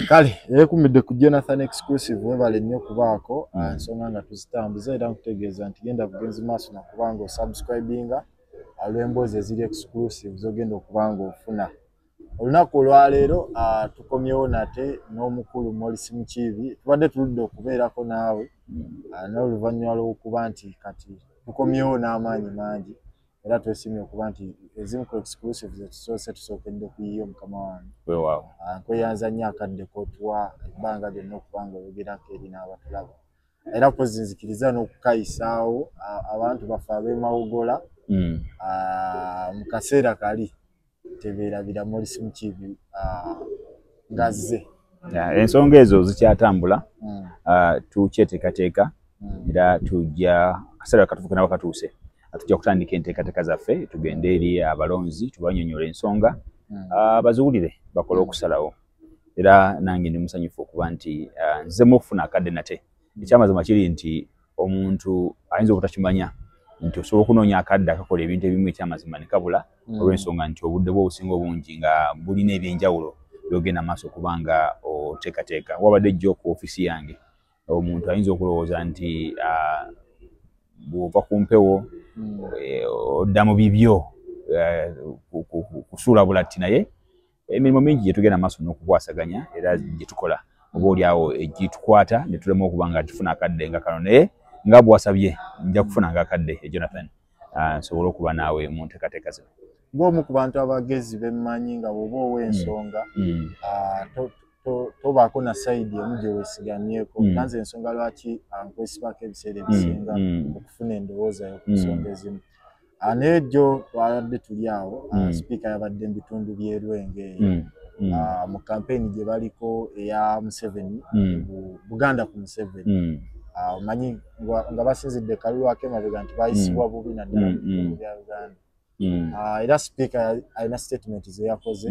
kale yekumidde ku jonathan exclusive webale nnyo kubaako mm. ah, ensonga nga tuzitambuza era nkutegeeza nti genda bugenzi maaso nakuba nga osubscribinga alwemboozi ah, eziri exclusive zogenda okuba nga ofuna olunaku olwaleero ah, tukomyewo nate n'omukulu molisi mukiibi tubadde tuludde okubeerako naawe mm. n'oluvannyuma lw'okuba nti kati tukomyewo n'amaanyi mangi era twesimye okuba nti ezimu ku exclusive zetusoose tusookedde kuyiyo mukama wange wewaawo ah, nkweyanza nnyo akadde kotuwa ebbanga lyonna okuba nga oyogerako eri n'abatulaba era kwezinzikiriza n'okukayisaawo abantu baffe ab'emawogola hmm. ah, mu kaseera kali tebeerabira morisi mukiibi ah, ngazze ensonga ezo zikyatambula hmm. ah, tukyeteekateeka hmm. era tujja akaseera katufuka nabo katuuse tujja kutandika enteekateeka zaffe tugende eri abalonzi tubanyonyola ensonga hmm. ah, baziwulire bakole okusalawo era nange ndi musanyufu okuba nti nzizemu okufuna akadde nate ekyamazima kiri nti omuntu ayinza obutakimanya nti osobola okunoonya akadde akakola ebintu ebimu ekyamazima ne kabula mm. olw'ensonga nti obudde bwo obusinga obungi nga bulina ebyenjawulo byogenda maaso okuba nga oteekateeka wabadde jjo ku ofiisi yange omuntu ayinza okulowooza nti ah, bw'ova ku mpewo mm. eh, odda mu bibyo eh, kusuula bulatti naye emirimu mingi gyetugenda maaso n'okukwasaganya era gyetukola oba olyawo egitukwata netulema okuba nga tufuna akadde nga kano naye nga bwasabye nja kufuna nga akadde e jonathan ah, nsobole okuba naawe mu ntekateeka zino ng'omu ku bantu abagezi bemmanyi nga bwoba ow'ensonga mm. mm. ah, tobaako na sayidi emu gyewesigamyeko mm. nanze ensonga lwaki ah, nkwesibako ebiseera ebisinga okufuna endowooza yo ku nsonga ezimu Ah, n'egyo twabadde tuli awo ah, mm. sipiika yabadde mu bitundu by'erwenge eyo mm. mm. ah, mu kampeyini gye baliko eya museveni buganda ku museveni omanyi nga basinzidde kalulu akemabega nti bayisibwa bubi naddala bitundu bya uganda era sipiika alina sitatimenti ze yakoze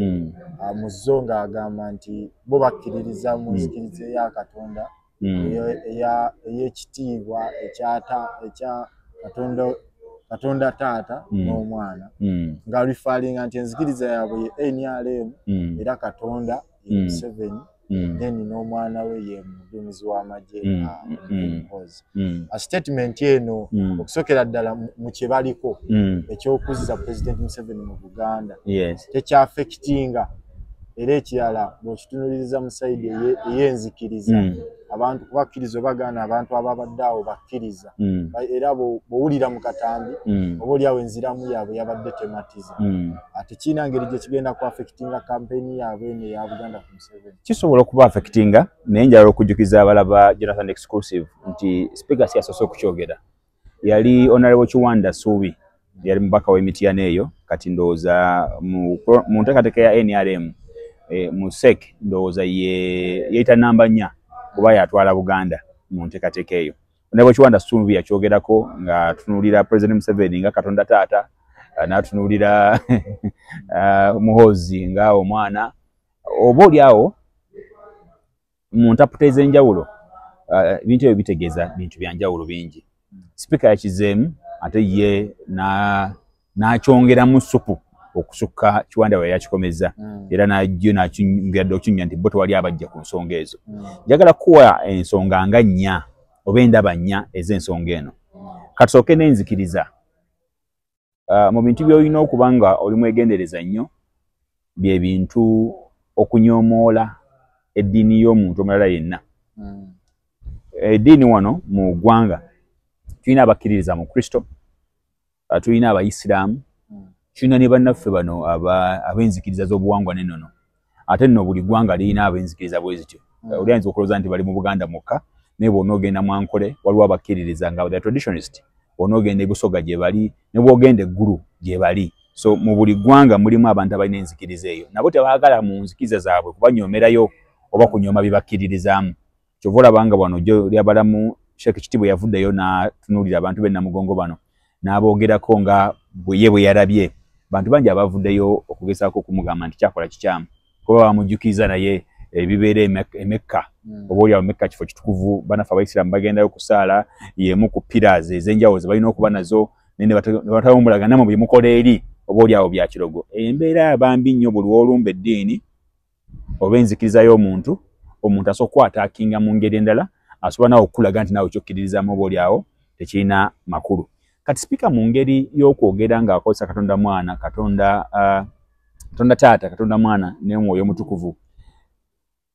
mu zo ng'agamba nti bo bakkiririza mu nzikiriza eya katonda mm. mm. eyekitiibwa ekyata ekya katonda katonda taata mm. n'omwana mm. nga rifalinga nti enzikiriza yaabwe ye nrm mm. era katonda ye mm. museveni mm. then n'omwana we ye mudumizi w'amagye mm. Ah, mm. mm. a statement eno mm. okusokera ddala mu kye baliko mm. eky'okuzza president museveni mu buganda yes. tekyafekitinga era ekirala bwekitunuliriza mu saidi eyenzikiriza mm. abantu kubakkiriza obagaana abantu ababadde awo bakkiriza mm. era bwowulira mu katambi mm. oba oliawo enziramu yaabwe yabadde tematiza ate kiina ngeri gyekigenda ku affectinga kampeyini yaabwe eno eya buganda ku museveni kisobola okuba affectinga naye njala okujjukiza abalaba jonathan exclusive nti speaker siyasoose okukyogera yali honorable kiwanda suubi yali mubaka w'emityana eyo kati ndowooza mu nteekateeka ya nrm e, mu sek ndowooza yeyita namba nnya kuba yatwala buganda mu nteekateeka eyo honorable kiwanda suubi yakyogerako nga tunuulira president museveni nga katonda taata n'atunuulira uh, muhoozi nga omwana oba oli awo mu ntaputa ez'enjawulo uh, ebintu ebyo bitegeeza bintu bya njawulo bingi sipiika yakizeemu ate ye n'akyongeramu supu okusukka kiwanda we yakikomeza hmm. era najo nakyongera dde okinyumya nti bo tewali abajja ku nsonga ezo hmm. njagala kuwa ensonga nga nnya oba endaba nnya ez'ensonga eno katusooke n'enzikiriza uh, mu bintu byolina okuba nga oli mwegendereza nnyo bye bintu okunyomoola eddiini y'omuntu omulala yenna hmm. eddiini eh, wano mu ggwanga tulina abakkiririza mu kristo uh, tulina abayisiraamu hmm. tulina ne bannaffe bano ab'enzikiriza z'obuwangwa nenono ate nno buli ggwanga lirina ab'enzikiriza bwe zityo hmm. oli ayinza okulowooza nti bali mu buganda mwokka naye bwona ogenda mwankole waliwo abakkiririza nga the traditionist bwona ogenda ebusoga gye bali ne bwogenda eggulu gye bali so mu buli ggwanga mulimu abantu abalina enzikiriza eyo nabo tebaagala mu nzikiriza zaabwe kubanyoomerayo oba kunyooma bye bakkiririzaamu kyova olaba nga wano jo lyabalamu sheekh kitibwe yavuddeyo n'atunuulira abantu be namugongo bano n'aboogerako nga bweye bwe yarabye bantu bangi abavuddeyo okugezaako okumugamba nti kyakola kikyamu kuba bamujjukiza naye ebibeera emekka hmm. oba olyawo mekka kifo kitukuvu banafe abaisiraamu bagendayo okusaala yemu ku piras ez'enjawulo ze balina okuba nazo nebatawumbulaganamu byemukola eri oba olyawo byakirogo embeera bambi nnyo buli wolumba eddiini oba enzikiriza y'omuntu omuntu asobola okukwataakinga mu ngeri endala asobola nawe okukulaga nti nawe kyokkiririzaamu oba oli awo tekirina makulu kati sipiika mu ngeri y'okwogera ng'akozesa katonda mwana katonda uh, katonda taata katonda mwana n'omwoyo omutukuvu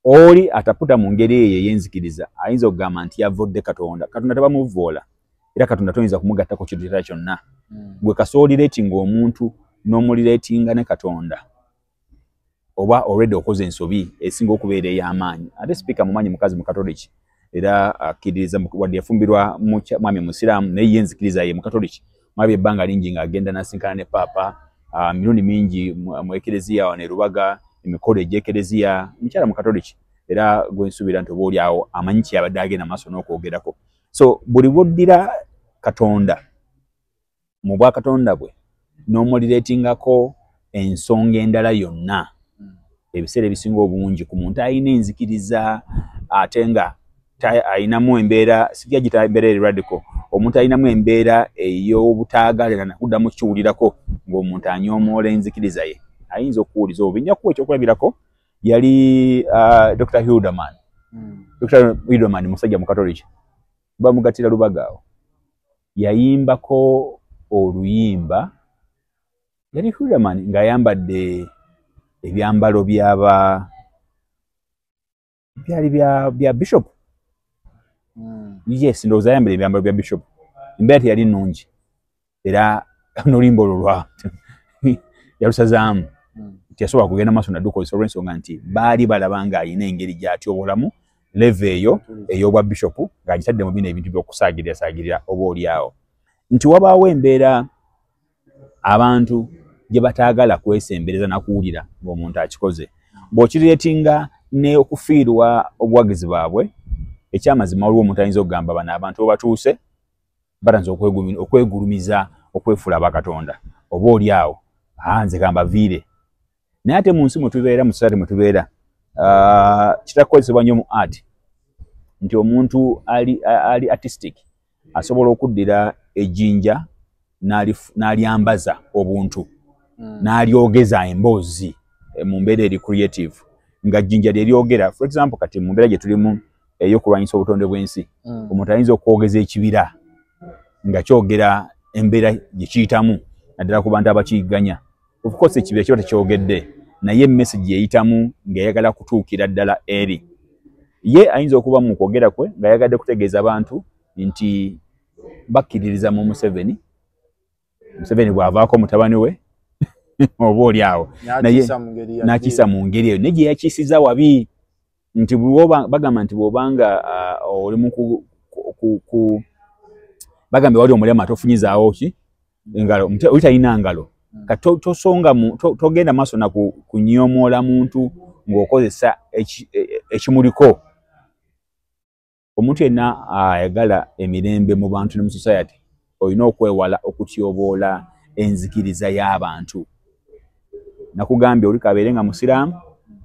oli ataputa mu ngeri eyo ey'enzikiriza ayinza okugamba nti yavudde katonda katonda tabamuvvoola era katonda toyinza kumugattako kintu kyonna hmm. gwe kasooli reetinga omuntu n'omuli reetinga ne katonda oba already okoze ensobi esinga okubeera ey'amaanyi ate sipiika mumanyi mukazi mukatoliki era akkiririza wadde yafumbirwa mwami musiraamu naye ye nzikiriza ye mukatoliki mwabye ebbanga lingi ng'agenda nasinkana ne paapa ah, mirundi mingi mu ekereziya wano erubaga emikolo egy'ekereziya mukyala mukatoliki era gwensuubira nti oba olyawo amanyi kyeyabadde agenda maaso n'okwogerako so buli bwoddira katonda mu bwakatonda bwe n'omuliretingako ensonga endala yonna ebiseera ebisinga obungi ku muntu alina enzikiriza ate nga alinamu embeera sijja gita embeera eri radical omuntu alinamu embeera ey'obutaagalira nakuddamu kiwulirako ng'omuntu anyoomoola enzikiriza ye ayinza okuwuliza obi njakuwa ekyokulabirako yali uh, dr hilderman hmm. dr hilderman musajja mukatoliki bamugattira lubagaawo yayimbako oluyimba yali hulaman ng'ayambadde ebyambalo byaba byali bya bya bishop hmm. yes ndowooza ayambadde ebyambalo bya bishop embeera teyali nnungi era n'oluyimba olwo lwa yalusazaamu hmm. teyasobola kugenda maaso naddukozesa olw'ensonga nti baali balaba ng'alina engeri gy'atyobolamu leve eyo ey'obwa bishopu ng'agitadde mu bino ebintu by'okusaagirira saagirira oba olyawo nti wabaawo embeera abantu gye bataagala kwesembereza na kuwulira ng'omuntu akikoze bw'okireetinga ne okufiirwa obuwagizi bwabwe ekyamazima waliwo omuntu ayinza okugamba bano abantu obatuuse batanza okwegulumiza okwefuula bakatonda oba olyawo nze kambaviire naye ate mu nsi mwe tubeera mu society mwe tubeera ah, kitakukozesebwa nnyo mu art nti omuntu ali, ali artistic asobola okuddira ejinja n'alyambaza obuntu hmm. n'alyogeza emboozi eh, mu mbeera eri creative nga jjinja lye lyogera for example kati mu mbeera gye tulimu ey'okulwanyisa obutonde bw'ensi hmm. omuntu ayinza okwogeza ekibira nga kyogera embeera gye kiyitamu naddala ku bantu abakiyigganya of course ekibira kiba tekyogedde naye message yeyitamu ng'eyagala kutuukira ddala eri ye ayinza okuba mu kwogera kwe ng'ayagadde kutegeeza abantu nti bakkiririza mu museveni museveni bw'avaako mutabani we oba oli awo naye n'akiisa mu ngeri eyo naye gye yakiisiza wabi nti bagamba nti bwobanga uh, oli mu bagambye wali omulema tofunyizaawo ki engalo oli talina ngalo hmm. kati tosonga togenda maaso na kunyomoola muntu ng'okozesa e, e, ekimuliko omuntu yenna ayagala emirembe mu bantu ne mu society olina okwewala okutyoboola enzikiriza y'abantu nakugambye oli kabeere nga musiraamu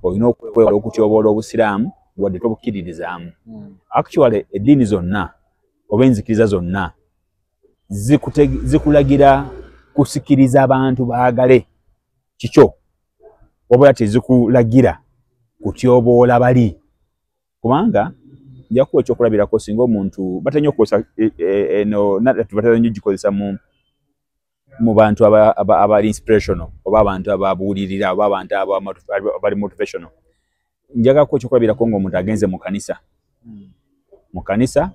olina okwewala okutyoboola obusiraamu wadde tobukkiririzaamu hmm. actually eddiini zonna oba enzikiriza zonna zikulagira kusikiriza abantu baagale kikyo wabula tezikulagira kutyoboola bali kubanga njakuwa ekyokulabirako singa omuntu batera nyo okukozesa e, e, eno nadatu batera nyo gikozesa mu mu bantu abali inspirational oba abantu ababuulirira oba abantu abali motivational njagako ekyokulabirako nga omuntu agenze mu kanisa hmm. mu kanisa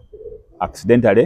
accidentally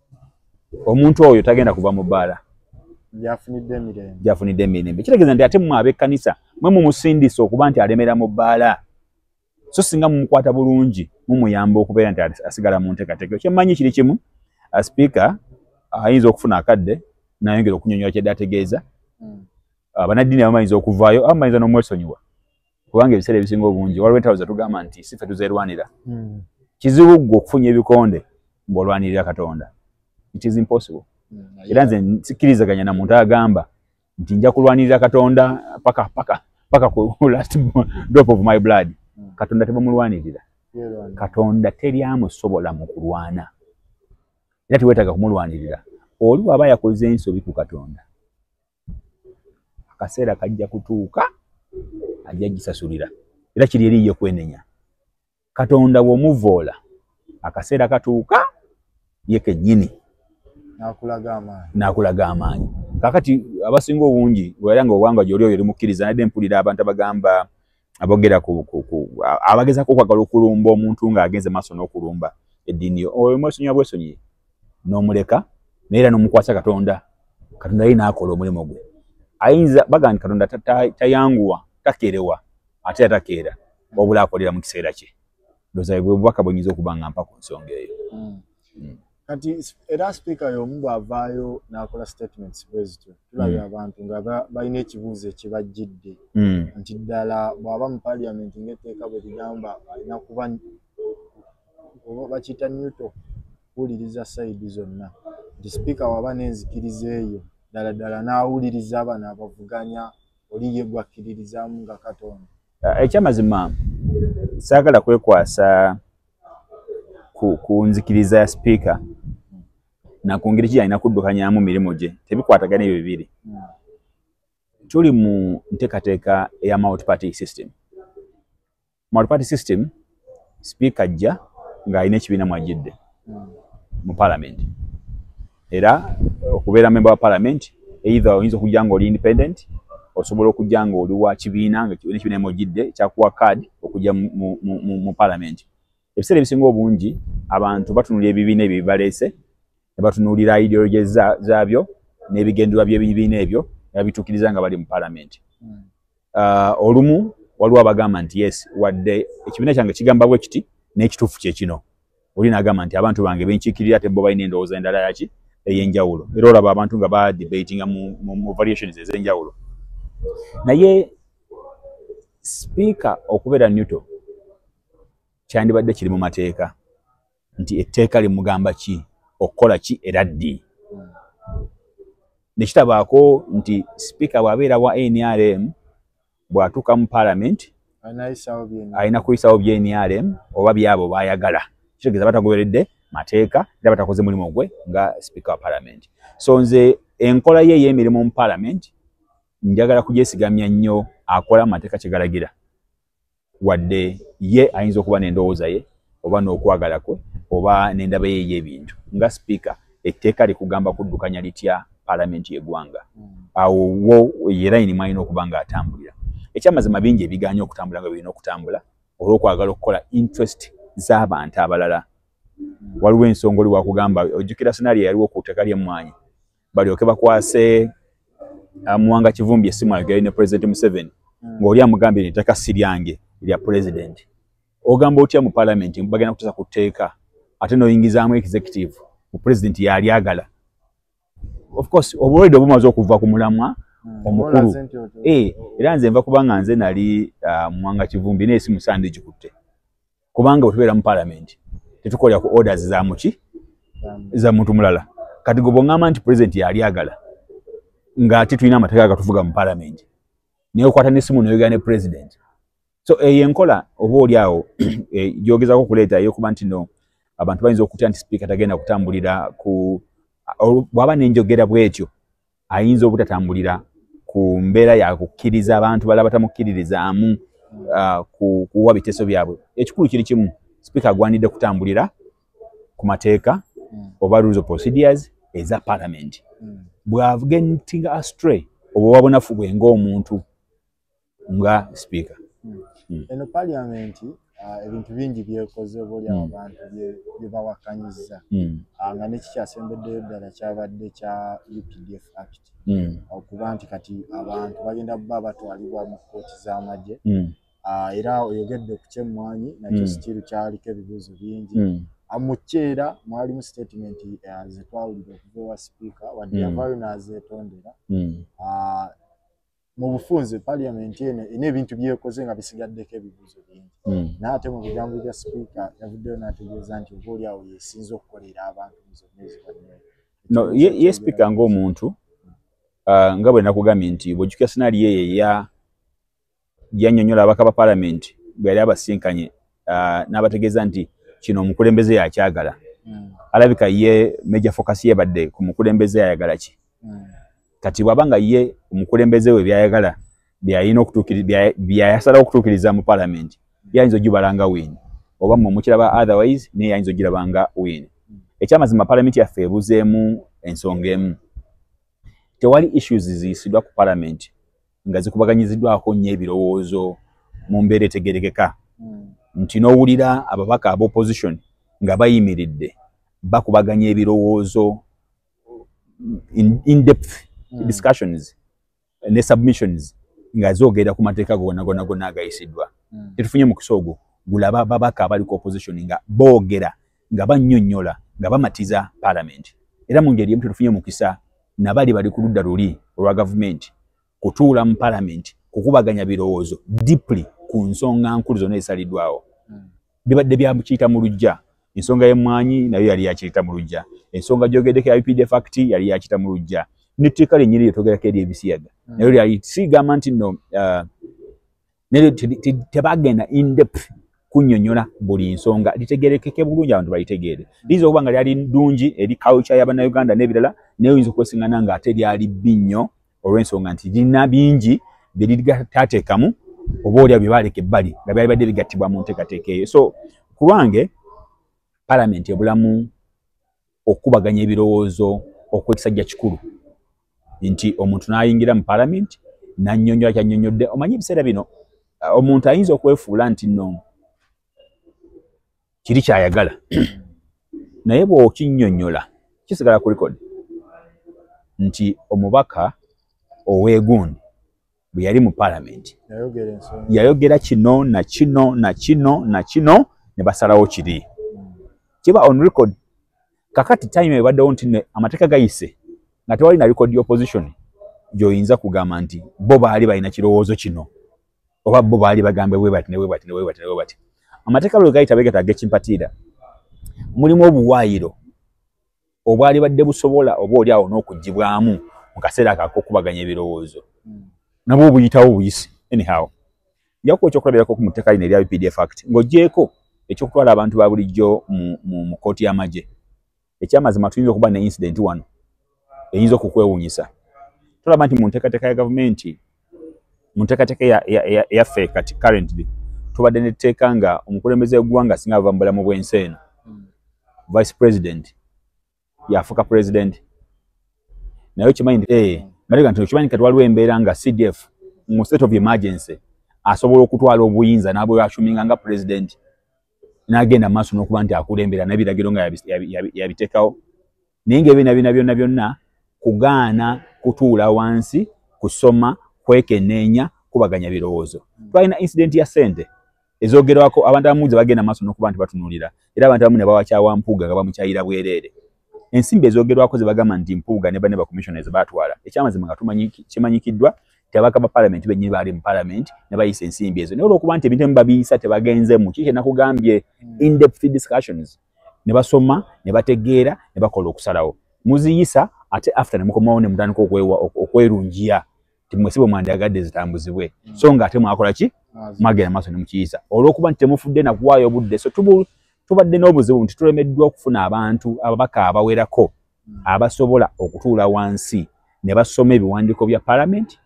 omuntu oyo tagenda kuva mu bbaala gyafunidde emirembe kitegeeza nti ate mwe ab'ekkanisa mwe mumusindisa okuba nti alemera mu bbaala so singa mumukwata bulungi mumuyamba okubeera nti asigala mu nteekateeka kyemmanyi kiri kimu asipiika ayinza okufuna akadde nayongera okunyonyola kyadde ategeeza hmm. abanaddini abamayinza okuvaayo abamayinza n'omwesonyiwa kubanga ebiseera ebisinga obungi waliwo entalo zetugamba nti si fe tuzerwanira hmm. kizibu ggwe okufunya ebikonde ng'olwanirira katonda it is impossible hmm, era nze sikkirizaganya na muntu agamba nti nja kulwanirira katonda paka paka paka ku last drop of my blood hmm. katonda tebamulwanirira katonda teri amusobola mu kulwana era tewetaaga kumulwanirira oli waba yakoze ensobi ku katonda akaseera kajja kutuuka ajja gisasulira era kiri eri ye kwenenya katonda womuvoola akaseera katuuka ye kenyini nakulaga amaanyi kakati abasinga obungi era nga obwanga gyoli oyo limukkiriza nadde mpulira abantu abagamba abogera ku abagezako okwagala okulumba omuntu ng'agenze maaso n'okulumba eddiini yo oyo mwesonyiwa bwesonyiye n'omuleka naye era n'omukwasa katonda katonda ye n'akola omulimu gwe ayinza baga nti katonda tayanguwa takeerewa ate era takeera wabula akolera mu kiseera kye ndooza bwe bubaka bwenyinza okuba nga mpa ku nsonga eyo hmm. Hmm. kati era sipiika y'omu bw'avaayo n'akola statements bwe zityo tulabye hmm. abantu nga balina ekibuuzo ekibajjidde hmm. nti ddala bw'aba mu paliament ng'etteeka bwe ligamba alina kuba oba bakiyita newto kuwuliriza sayidi zonna nti sipiika waba n'enzikiriza eyo ddala ddala n'awuliriza abano abavuganya oli ye gwakkiririzaamu nga katonda eh, ekyamazima saagala kwekwasa ku nzikiriza ya sipiika nakungeri ki yalina kuddukanyamu mirimu gye tebikwatagana ebyo bibiri tuli mu nteekateeka eya multiparty system multiparty system sipiika ajja ng'alina ekibiina mwajjidde mu palamenti era eh, okubeera memba wa parliament either oyinza okujja nga oli independent osobola okujja nga oli wa kibiina ngaekibiina emojidde kyakuwa card okujja mu parliament ebiseera ebisinga obungi abantu batunula ebibiina ebyo bibaleese ne batunuulira ideology zaabyo n'ebigenderwa by'ebibiina ebyo nabituukiriza nga bali mu parliament hmm. ah, olumu waliwo abagamba nti yes wadde ekibiina kyange kigamba bwe kiti n'ekituufu kyekino oli nagamba nti abantu bange benkiikirira ate bo balina endowooza endala yaki ey'enjawulo era olaba abantu nga ba debatinga mu variations ez'enjawulo naye sipiika okubeera newto kyandibadde kiri mu mateeka nti etteeka limugamba ki okukola ki era ddi nekitabaako nti sipiika bw'abeera wa nrm bwatuuka mu palamenti alina kuyisawo byenrm oba byabo bayagala kitegeeza batagoberedde mateeka era batakoze mulimu gwe nga sipiika wa palamenti so nze enkola ye ey'emirimu mu palamenti njagala kugyesigamya nnyo akola mu mateeka kyegalagira wadde ye ayinza okuba n'endowooza ye oba n'okwagala kwe oba n'endaba ye ey'ebintu nga sipiika etteeka likugamba kuddukanya litya palamenti y'eggwanga hmm. awo wo yerayini mwalina okuba ng'atambulira ekyamazima bingi ebiganya okutambula nga birina okutambula olw'okwagala okukola interest z'abantu abalala hmm. waliwo ensonga oli wakugamba ojjukira sinaali yaliwo ku tteka ly'emmwanyi balyoke bakwase uh, muwanga kivumbi esimu ayogere ne president museveni hmm. ngaoli amugambye ni ettaka si lyange lya president ogamba otya mu palamenti bagenda kutesa ku tteeka ate noyingizaamu executive mu president yalyagala of course obulwaide obumaze okuva ku mulamwa hmm. omukulu eh, era nze nva kubanga nze nali uh, muwanga kivumbi naye si musande gikutte kubanga wetubeera mu palamenti tetukolera ku orders za muki za muntu mulala kati gwe bwongamba nti pulezidenti yali agala ng'ate tulina amateeka agatuvuga mu palamenti naye okwata n'essimu noyogera ne pulezidenti so eyo enkola oba oli awo eh, gyogezako okuleeta eyokuba nti no abantu bayinza okutya nti sipiika tagenda kutambulira ku bwaba nenjogera bwetyo ayinza obutatambulira ku mbeera yakukkiriza abantu bala batamukkiririzaamu uh, kuwa biteeso byabwe ekikulu kiri kimu sipiika agwanidde kutambulira ku mateeka hmm. oba rules of procedures eza palamenti hmm. bw'agentinga astray oba wabunafu bwe ng'omuntu nga sipiika hmm. eno paliamenti ah, ebintu bingi byekoze obaolyawo hmm. abantu byebawakanyiza hmm. ah, nga nekikyasembeddeyo ddala kyabadde kya updf act okuba nti kati abantu bagenda kuba batwalibwa mu kooti z'amagye ah, era oyogedde ku kyemmwanyi nakyo sitiiru kyaliko ebibuuzo bingi mukyeera mwalimu sitatimenti eh, zetwawulira okuva ewa sipiika wadde yavayo nazetondera mu bufunze paliamenti eno erina ebintu byekoze nga bisigaddeko ebibuuzo bingi hmm. naye ate mu bigambo bya sipiika yavuddeyo n'ategeeza nti oba oli awo yesinza okukolera abantu no ye sipiika ngaomuntu uh, nga bwe nakugambye nti bwejukira sinaali eyo eya yanyonyola abaka ba palamenti bwe yali abasinkanye uh, n'abategeeza nti kino omukulembeze yakyagala mm. alabika ye major focus yebadde ku mukulembeze ayagala ki mm. kati bwaba nga ye omukulembeze we byayagala byayina byayasalawo okutuukiriza mu palamenti yayinza ojubala nga win oba mwe mukiraba otherwise naye yayinza ogiraba nga win mm. ekyamazima palamenti yaffe ebuzeemu ensonga emu tewali issues ziyisiddwa ku palamenti nga zikubaganyiziddwako nnyo ebirowoozo mu mbeera etegerekeka hmm. nti n'owulira ababaka aba opposition nga bayimiridde bakubaganya ebirowoozo indepth in hmm. discussions ne submissions nga zogera ku mateeka gona gona gona agayisiddwa hmm. tetufunye mukisa ogwo gulaba babaka abali ku opposition nga boogera nga bannyonnyola nga bamatiza paalamenti era mu ngeri emu tetufunye mukisa nabali bali ku ludda luli olwa gavumenti kutuula mu paalamenti kukubaganya birowoozo deeply ku nsonga nkulu zonna ezisaliddwawo hmm. bibadde byakiyita mu lujja ensonga y'emmwanyi nayo yali yakiyita mu lujja ensonga gyogeddeko ya updf act yali yakiyita mu lujja netteeka lyennyini lyetogerako eri ebisiyaga hmm. nayo lyali sigamba nti no uh, naye tebagenda indep kunyonyola buli nsonga litegerekeke bulungi abantu balitegeere liyinza okuba nga lyali ddungi eri culture ya bannayuganda n'ebirala naye oyinza okwesingana nga ate lyali bbi nnyo olw'ensonga nti lirina bingi bye liritateekamu oba olya bye baaleka ebbali nga byali badde bigattibwa mu nteekateeka eyo so ku lwange palamenti ebulamu okukubaganya ebirowoozo okwekisajja kikulu nti omuntu n'ayingira mu palamenti n'annyonnyola kyannyonnyodde omanyi ebiseera bino uh, omuntu ayinza okwefuula nti no kiri kyayagala naye bw'okinnyonnyola kisigala ku likodi nti omubaka owegundi bwe yali mu palamenti yayogera kino na kino na kino na kino ne basalawo kiri hmm. kiba on record kakati time ebaddewo nti ne amateeka gayise nga tewali na record opposition gyoyinza kugamba nti bo baali balina kirowoozo kino oba bo baali bagambe webati newebati newebati newebati amateeka lwe gayita begata agekimpatiira mulimu obuwaayiro obwali badde busobola oba oli awo n'okugibwamu mu kaseera kakokubaganya ebirowoozo hmm. nabwo obuyitawo obuyisi anyhow njakuwa ekyokulabirako ku muteeka lino erya updf act ng'ogyeko ekyokutwala abantu ba bulijjo mu kooti y'amagye ekyamazima tuyinza okuba ne incidenti wano eyinza okukwewuunyisa tulaba nti mu nteekateeka ya gavumenti mu nteekateeka eyaffe kati currently tubadde netteeka nga omukulembeze wegwanga singa ava mubulamu bwensi eno hmm. vice president yafuka president naye okimanyi nti eh, hmm. malega nti okimanyi kati waliwo embeera nga cdf mu state of emergency asobola okutwala obuyinza nabweyashuminga nga president nagenda maaso nokuba nti akulembera naye biragiro nga yabiteekawo naye nga ebina bina byonna byonna kugaana kutuula wansi kusoma kwekeneenya kubaganya birowoozo twalina incidenti ya sente ezogerwako abantu abamu ze bagenda maaso nokuba nti batunulira era abantu abamu ne bawakyawa mpuuga nga bamukyayira bwereere ensimbi ezogerwako zebagamba nti mpuuga ne bane bacommissioners batwala ekyamazima nga kimanyikiddwa nti abaka ba palamenti benyini baali mu palamenti ne bayisa ensimbi ezo naye olwokuba nti ebintu emu babiyisa tebagenze mu kiki enakugambye mm. indepth discussions ne basoma ne bategeera ne bakola okusalawo muziyisa ate after ne mukomawo ne mutandika okwerungiya timwesi bwe mwandyagadde zitambuzibwe mm. so nga ate mwakola ki mwagenda maaso ne mukiyisa olw'okuba nti temufudde na kuwaayo obudde so tubadde n'obuzibu nti tulemeddwa okufuna abantu ababaka abawerako mm. abasobola okutuula wansi ne basoma ebiwandiiko bya palamenti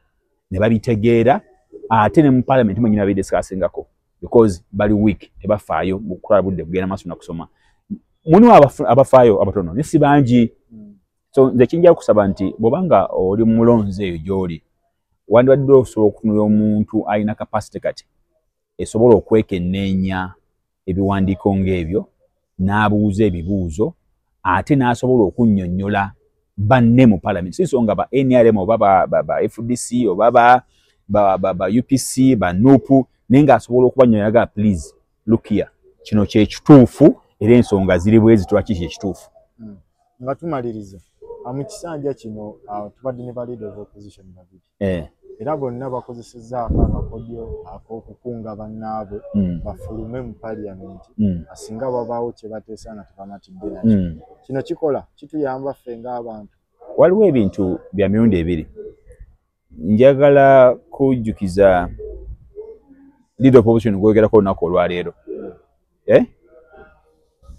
ne babitegeera ate ne mu palamenti mwenyini abidisikaasingako because bali week tebafaayo mukutwala budde kugenda maaso nakusoma mulimu abafaayo abatono naye si bangi hmm. so nze kinja kusaba nti bwobanga oli mulonzi eyo gyoli wandibadde osobola okutunula omuntu alina kapasite kati esobola okwekenneenya ebiwandiiko ng'ebyo n'abuuza ebibuuzo ate n'asobola okunnyonnyola banne mu palamenti si nsonga ba nrm oba ba fdc oba ba upc ba nup naye ng'asobola okubanyonyaga please lukia kino kyekituufu era ensonga ziri bwezi twaki kyekituufu hmm. nga tumaliriza mu kisanja kino uh, tubadde ne ba leader of opposition babiri eh. era bonna bakozesezza ako akakodyo ak'okukunga bannaabwe mm. bafulume mu paliyamenti mm. asinga babaawo kye bateesa nga tebamatidde nakyo mm. kino kikola kituyamba ffe ng'abantu waliwo ebintu bya mirundi ebiri njagala kujjukiza lead of opposition gwogerako olunaku olwaleero eh?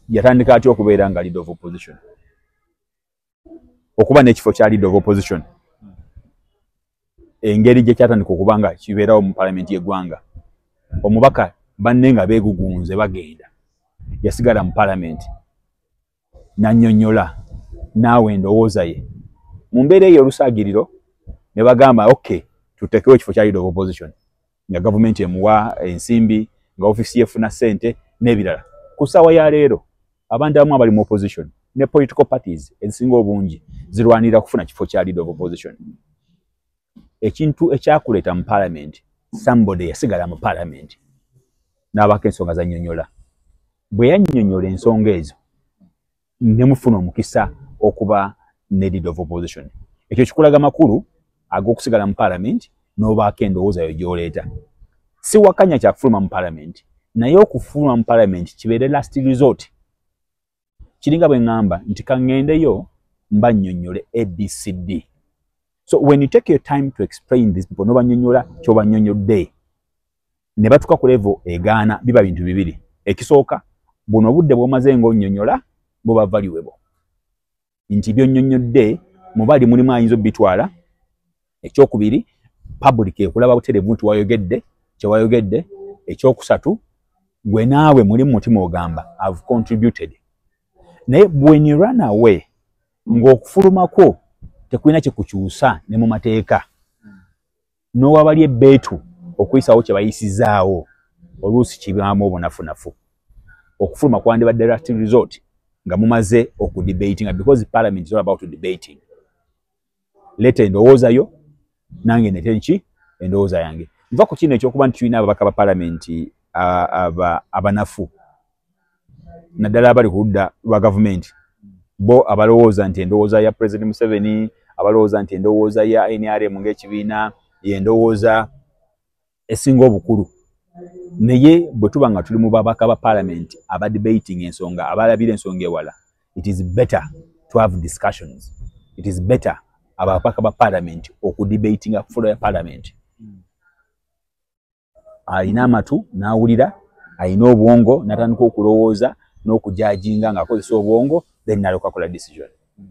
yatandika atya okubeera nga lead of opposition okuba n'ekifo kya leader of opposition engeri gye kyatandika okuba nga kibeerawo mu palamenti y'eggwanga omubaka banne nga beegugunze bagenda yasigala mu palamenti nanyonyola naawe endowooza ye mu mbeera eyo olusaagiriro ne bagamba ok tutekewo ekifo kya leader of opposition nga gavumenti emuwa ensimbi nga ofisi yefuna sente n'ebirala ku ssaawa ya leero abantu abamu abali mu opposition ne political parties ezisinga obungi zirwanirira kufuna kifo kya leader of opposition ekintu ekyakuleeta mu parliament somebody yasigala mu parliament n'abaako ensonga zanyonyola bwe yanyonyola ensonga ezo ne mufuna omukisa okuba ne lead of opposition ekyo kikulaga makulu ag'okusigala mu palamenti n'obaako endowooza yo gy'oleeta si wakanya kyakufuluma mu palamenti naye okufuluma mu palamenti kibeere last resort kiringa bwe ŋŋamba nti kaŋŋendeyo mba nnyonnyole abcd so when you take your time to explain this people n'obanyonyola ky'obanyonyodde ne batuka ku level egaana biba bintu bibiri ekisooka buno obudde bwomaze nga onyonyola buba valuable nti byonyonyodde mubali mulimu ayinza obitwala ekyokubiri public ekulaba buterevu nti wayogedde kyewayogedde ekyokusatu gwe naawe muli mumutima ogamba have contributed naye when you run away ng'okufuluma kwo tekulina kyekukyusa ne mu mateeka n'owabali ebbeetu okuyisaawo kye bayisizaawo oluusi kibaamu obunafunafu okufuluma kwandibadde last resort nga mumaze okudebatinga because parliament is all about debating leeta endowooza yo nange nete nki endowooza yange nva ku kino ekyokuba nti tulina ababaka ba palamenti abanafu aba naddala abali ku ludda lwa gavumenti bo abalowooza nti endowooza ya president museveni abalowooza nti endowooza ya nrm ngaekibiina yendowooza esinga obukulu naye bwe tuba nga tuli mu babaka ba palamenti aba debating ensonga abalabira ensonga ewala it is better to have discussions it is better ababaka ba palamenti okudebatinga fulo ya palamenti alina amatu n'awulira alina obwongo n'atandika okulowooza n'okujajinga ng'akozesa obwongo then nalyoka akola decision hmm.